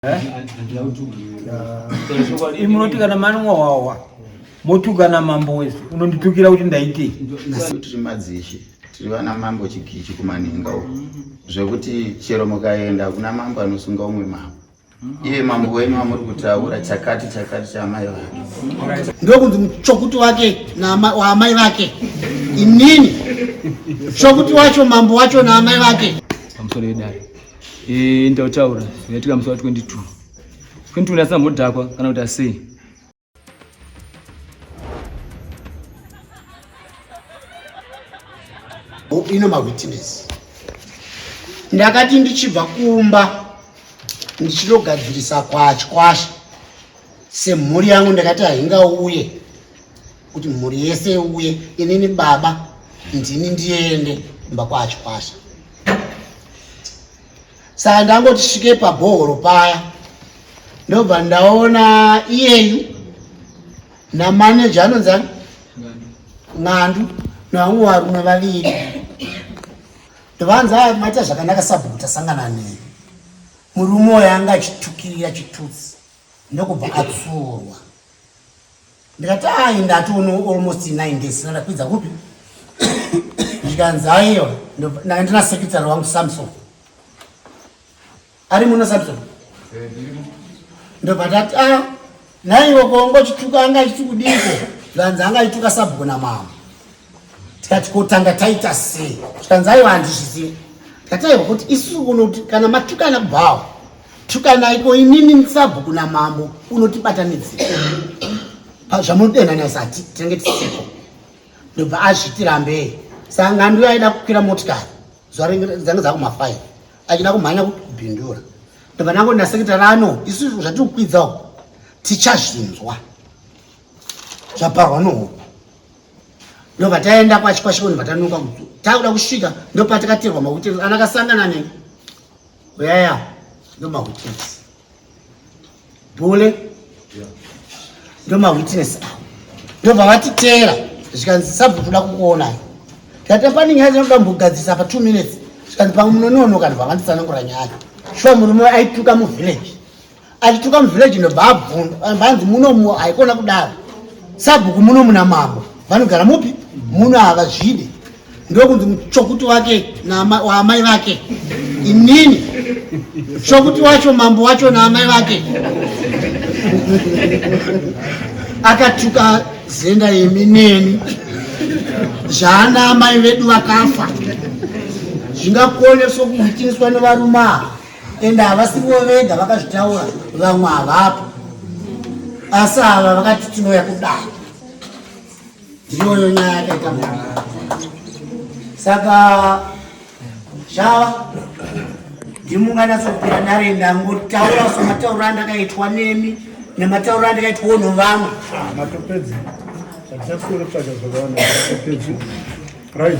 Eh? munoti kana manwa wawa motukana mambo wese unonditukira kuti ndaitei tiri madzishe tiri vana mambo chikichi kumaninga uko zvekuti chero mukaenda kuna mambo anosunga umwe mambo iye mambo wenyu amuri kutaura chakati chakati chaamai vake ndokunzi muchokuti wake waamai vake inini chokuti wacho mambo wacho naamai vake pamusoro yedare Eh, nditautaura yaitika musi wa 22 22 asina mudhakwa kana kuti asei ino mawitness ndakati ndichibva kumba ndichinogadzirisa kwachikwasha semhuri yangu ndakati haingauye kuti mhuri yese iuye inini baba ndini ndiende kumba kwachikwasha saka ndangoti svike pabhohoro paya ndobva ndaona iyeyu namaneja anonzi ani ng'andu navamwe varume vaviri ndovanzi aya maita zvakanaka sabhuku tasangana nei murume oyo anga achitukirira chitutsi ndokubva atsuurwa ndikati ayi ndatono almost nine days sina ndakwidza kupi zvikanzi aiwa ndanga ndina secretary wangu samson ari muno samson eh, ndobva tati a ah, naiwo kongo chituka anga chiti kudiko zvanzi anga chituka sabhuku namama tikati kotanga taita sei zvikanzi aiwa handizvizive tikati aiwa kuti isusu kunoti kana matukana bhawa tukanai ko inini nsabhuku namambo unotibatanidzira zvamunodenhana zati tinenge tisiko ndobva azvitirambei sangano yaida kukwira motikari zuva dzange dzakumafaive achida kumhanya kubhindura ndobva nango nasekita rano isu zvatiri kukwidzawo tichazvinzwa zvaparwa nohope ndobva taenda kwachikwashikoni vatanuka takuda kusvika ndopatakaterwa mahotels ana kasangana ne uyaya ndomahotels bule ndomawitness awo ndobva vatiteera zvikanzi sabva toda kukuonai tata pane nyaya dzinoda mbogadzisa pa two minutes zvikanzi pamwe munonoonoka ndobva vanditsanangura nyaya shuwa murume aituka muvillage achituka muvillage nobva abvunza vanzi munomu haikona kudaro sabhuku muno muna mambo vanogara mupi muno havazvide ndokunzi muchokuti wake waamai vake inini chokuti wacho mambo wacho naamai vake akatuka zenda yemi neni zvaana amai vedu vakafa zvingakone sokuhitiniswa nevarume ava ende havasivo vega vakazvitaura vamwe havapo asi ava vakati tinouya kudai ndiyoyo nyaya yakaita mu saka zvava ndimunganyatsokupira ndare ndangotaura sematauro andakaitwa nemi nematauro andikaitwawo novamwe ah, matopedzi atisasikurotsvaga zvakawana matopedzi right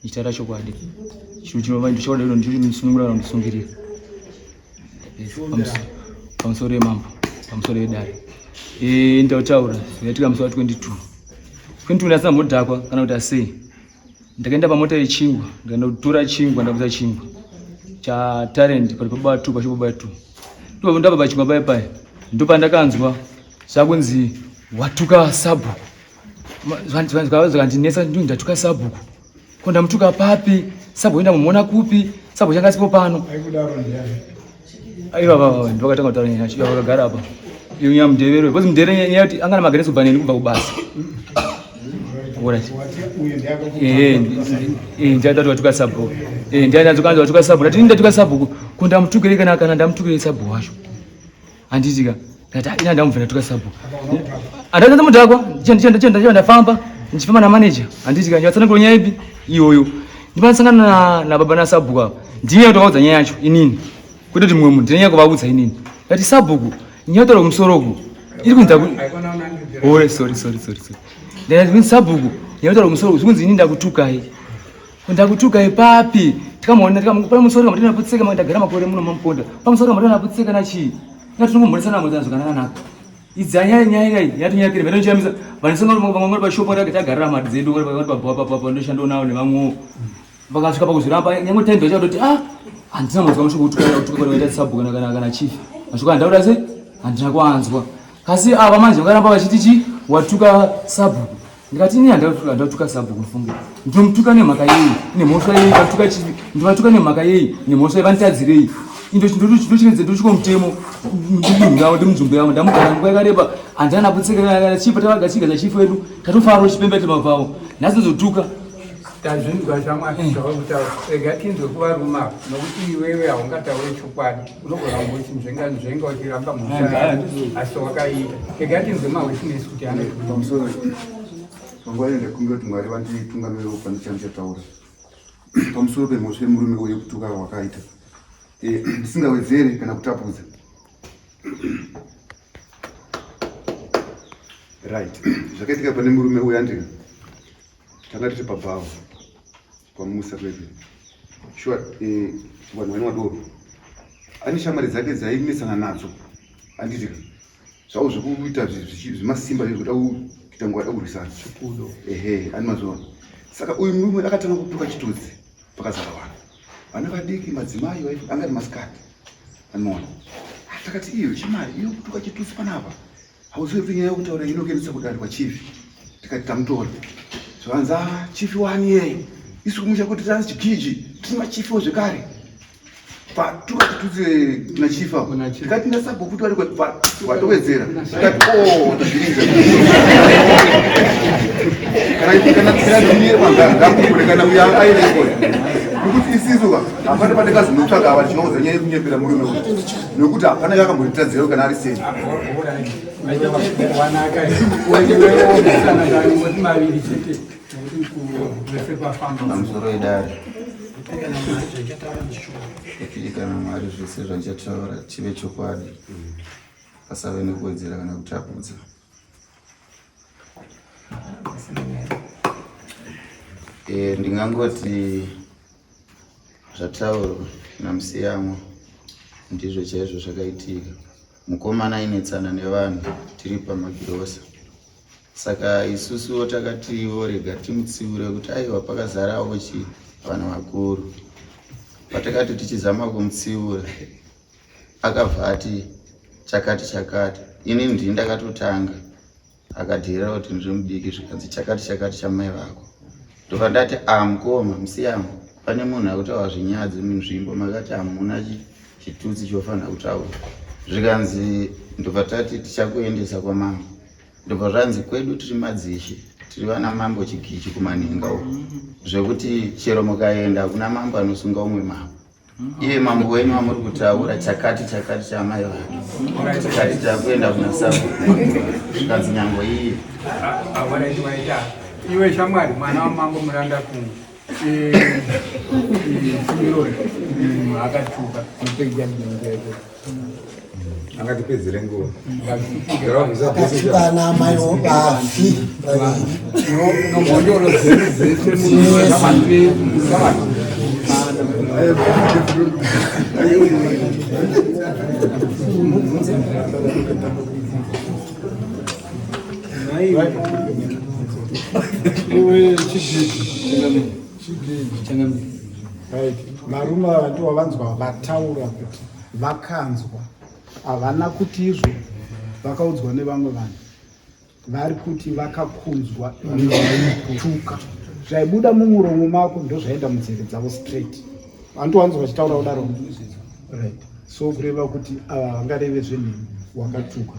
Ndichitaura chokwadi. Chinhu chinova ndichokwadi iro ndicho chinondisunungura kana kundisungirira. Pamusoro yemambo, pamusoro yedare. Eh, nditautaura zvaitika musi wa 22. 22 ndasina mudhakwa kana kuti asei. Ndakaenda pamota yechingwa, ndikaenda kutora chingwa, ndakabudisa chingwa. Cha talent pari pababa 2 pachibaba 2. Ndipo ndababa chingwa pai pai. Ndipo ndakanzwa zvakunzi watuka sabhuku. zvandinetsa ndini ndatuka sabhuku ko ndamutuka papi sabhuku ndamuona kupi sabhuku changa sipo pano ivava ndivakatanga kutaura nyaya yacho vakagara apa iunya mudevero because mudevero nyaya yoti angana mageresi kubva neni kubva kubasa ndiadati watuka sabhuku ndiadati watuka sabhuku ndati ndatuka sabhuku ko ndamutukirei kana ndamutukirei sabhuku wacho handiti ka ndati ah, ina ndamubvira tuka sabu andati ndamudhakwa ndichenda ndafamba ndichifamba namaneja handiti ka ndivatsanangura nyaya ipi iyoyo ndivatsangana nababa nasabhuku ava ndine kutovaudza nyaya yacho inini kwete kuti mumwe munhu ndine nyaya kuvaudza inini ndati sabhuku nyaya taura kumusoro uku iri kunzi ore oh, sorry sorry sorry sorry ndati sabhuku nyaya taura kumusoro uku zvikunzi inini ndakutukai ndakutukai papi tikamuona tikamupa musoro kamatana kutseka maka ndagara makore muno mamuponda pamusoro kamatana kutseka na chii na tinongomhoresa na mutana zvakanaka nako idza nyaya nyaya nyaya yatinyaya kire vano chamisa vana sanga vamwe vamwe pa shop rake tagarira mari dzedu vano vano pa pa pa pa ndo shando nawo ne vamwe vakasvika pakuzviramba nyangwe time ndo chatoti ah andina muzwa musho kuti kana kuti kana ita sabu kana kana kana chief mashuka ndaura se andina kwanzwa kasi ava manje vakaramba vachiti chi watuka sabu ndikati ini handautuka sabhuku mufunge ndinomutuka nemhaka yei nemhosva yei vatuka chivi ndovatuka nemhaka yei nemhosva yei vanditadzirei indochinochinochinoedze ndochiko mutemo ndidunhu ravo ndimunzvimbo yavo ndamugara nguva yakareba handana kutsekeraaaa chipo tavagachiga chachifu vedu tatofaro chipembe tema pavo nhasi ndozotuka tazvinzwa zvamwari zvauri kutaura rega tinzwe kuvaruma nokuti iwewe haungataure chokwadi unogona kuti zvenga uchiramba mhosva asi wakaita kega tinzwe mawitness kuti anopamusoro panguva iyo ndakumbira kuti mwari vanditungamirira kupani chandichataura pamusoro pemhosva yemurume uye kutuka wakaita eh, ndisingawedzere kana kutapudza right zvakaitika pane murume uyo andina tanga tiri pabhawa kwamusa kwete shuwa eh, vanhu vane wadoro ane shamwari dzake dzaimesana nadzo anditi zvavo zvekuita zvemasimba zvekuda kuita nguva da kurwisana ehe ane mazuva saka uyu murume akatanga kutuka chitudzi pakazara vanhu vana vadiki madzimai anga ari masikati anoona takati iyo chimari iyo kutuka chitudzi panapa Hauzivi kuti nyaya yokutaura inokenesa kudari kwachief tikati tamutora zvakanzi ah chief wani yeye isu kumusha kuti tanzi chikiji tiri machifiwo zvekare patukati tuze na chief apo tikati nasabhuku kuti vari kwatowedzera tikati o oh, tazvirinza kana tikanatikanatiye kwangara ndakukure kana uya aireko nekuti isisu hapana pandakazonotsvaga ava tinoudza nyaya yekunyepera murume nokuti hapana yakambonditadzirao kana ari sei pamusoro edare kana mwari zvese zvachataura chive chokwadi pasave nekuwedzera kana kutapudza eh, ndingangoti Zvataurwa naMusiyamwa ndizvo chaizvo zvakaitika. Mukomana ainetsana nevanhu tiri pamagirosa, saka isusuwo takati vorega timutsiure kuti aiwa pakazarawo chi vanhu vakuru. Patakati tichizama kumutsiura akabva ati chakati chakati, ini ndini ndakatotanga Akateerera kuti ndiri mudiki zvikanzi chakati chakati chamai vako. Ndobva ndati ah mukoma musiyamo pane munhu akutaura zvinyadzi munzvimbo makati hamuna chitutsi chofanira kutaura. Zvikanzi ndobva tati tichakuendesa kwamambo. Ndobva zvanzi kwedu tiri madzishe tiri vana mambo chigichi kumanhenga uko zvekuti chero mukaenda hakuna mambo anosunga umwe mambo. iye mambo wenyu wamuri kutaura chakati chakati chaamai vake chakati chakuenda kuna sabu zvikanzi nyango iye iwe shamwari mwana wamambo muranda kungu e, e, simironi mm, akachuka angatipedzere nguva kana amai vafi Oi, varume ava ndivo vanzwa vataura kuti vakanzwa havana kuti izvo vakaudzwa nevamwe vanhu vari kuti vakakunzwa tuka zvaibuda mumuromo mako ndozvaenda munzeve dzavo straight vandiwanzwa vachitaura kudaro right so kureva kuti ava vangareve zvenheni wakatuka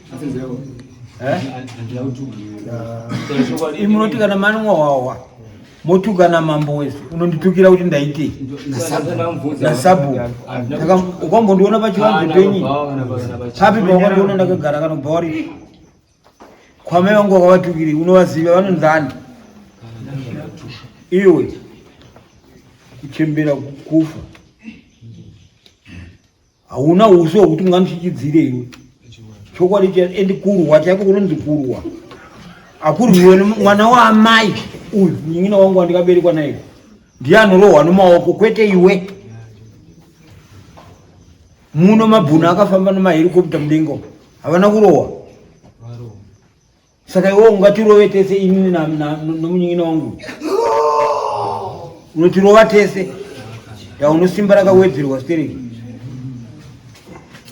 Eh? imunoti kana manwa wawa motukana mambo wese unonditukira kuti ndaitei nasabu ukambondiona pachivanze penyi papi pawakandiona ndakagara kanobva wari kwamai vangu wakavatukiri unovaziva vanonzani iwe kuchembera kufa hauna usi hwekuti mungandichichidzire iwe chokwadi cha endi kurwa chaiko kunonzi kurwa akurwiwe mwana waamai uyu munyin'ina wangu wandikaberekwa naye ndiye anorohwa nomaoko kwete iwe muno mabhuna akafamba nemaherikopta mudenga havana kurohwa Saka iwe ungatirove tese inini nomunyin'ina wangu unotirova tese yaunosimba rakawedzerwa stereki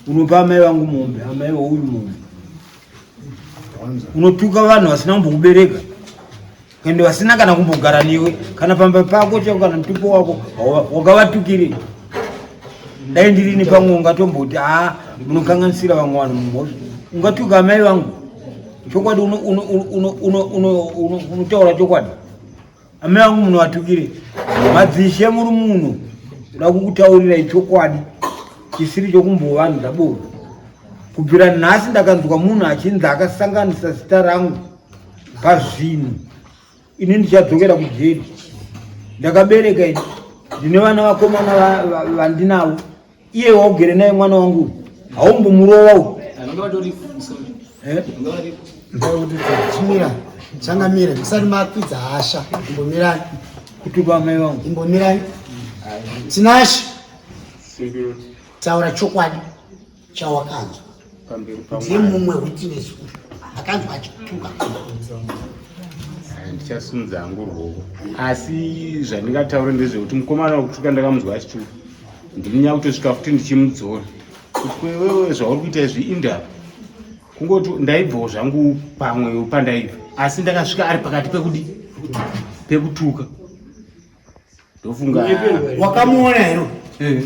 unopa amai vangu mombe amai vauyu mombe unotuka vanhu vasina kumbokubereka ende vasina kana kumbogara newe kana pamba pako chako kana mutupo wako wakavatukirei dai ndirini pamwe ungatomboti haa munokanganisira vamwe vanhu mumhosva ungatuka amai vangu chokwadi unotaura chokwadi amai vangu munovatukirei madzishe muri munhu uda kukutaurirai chokwadi chisiri chokumbovanhu ndabova kubvira nhasi ndakanzwa munhu achinzi akasanganisa zita rangu pazvinhu ini ndichadzokera kujeri ndakabereka ini ndine vana vakomana vandinavo iye waugere naye mwana wangu haumbomurova u eh? changamira musati makwidza hasha imbomirani kuti vamai vangu imbomirani tinashe taura chokwadi chawakanzwa ndiye mumwe witness uyu akanzwa achituka ndichasunza hangu rwoko asi zvandingataure ndezvekuti mukomana wekutuka ndakamunzwa achituka ndini nyakutosvika futi ndichimudzora kuti kwewewe zvauri kuita izvi indava kungoti ndaibvawo zvangu pamwe pandaiva asi ndakasvika ari pakati pekudi pekutuka ndofunga wakamuona hero eh,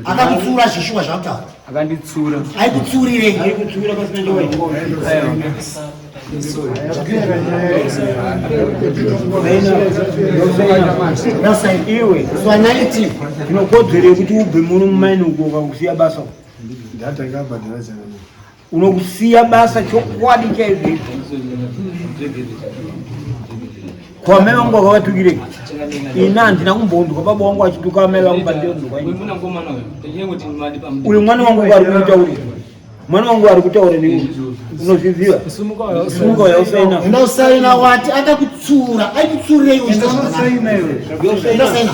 akakutsura zvishuwa zvakutaura akanditsura aikutsurirei basa iwe fanality tinokodzero yekuti ubve muno mumaini uko ukakusiya basa ndatanga bhadhara zana Unokusiya basa chokwadi chaizvo kwa mai vangu vakavatukirei ini handina kumbondwa baba wangu achituka mai vangu uyu mwana wangu ari kumutaurira mwana wangu ari kutaura nei unozviziva simuka uya usaina unosaina wati akakutsura aikutsurireiusaina